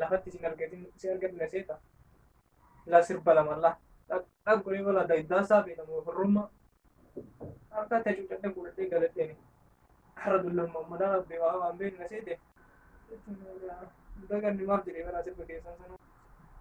lafatti isin argatin isin argatu na seeta la sirba lama la dhaqu ni mala da iddaa saa beeka moo firrumma harka ta'e cuucadhe fuudhadhee galadheeni har'a dullamma madaa rabbee waa waan beeku na seete daganni maaf jedhee bara sirba keessan sana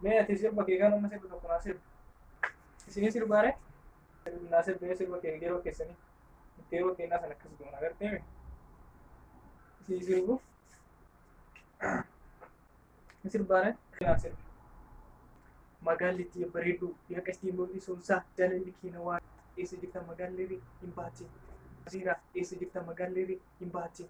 mee ati sirba kee kan amma sirba tokko naa sirba isinii sirbaare naa sirba sirba kee yeroo keessanii itti yeroo kennaa sana akkas goona agartee mi isii sirbuuf ni sirbaare keenaa sirbi magaallitti bareedduu yaqa isii mul'isuun isaa jaalalli keena waan eessa jirta magaalleerri hin baatin asiira eessa jirta magaalleerri hin baatin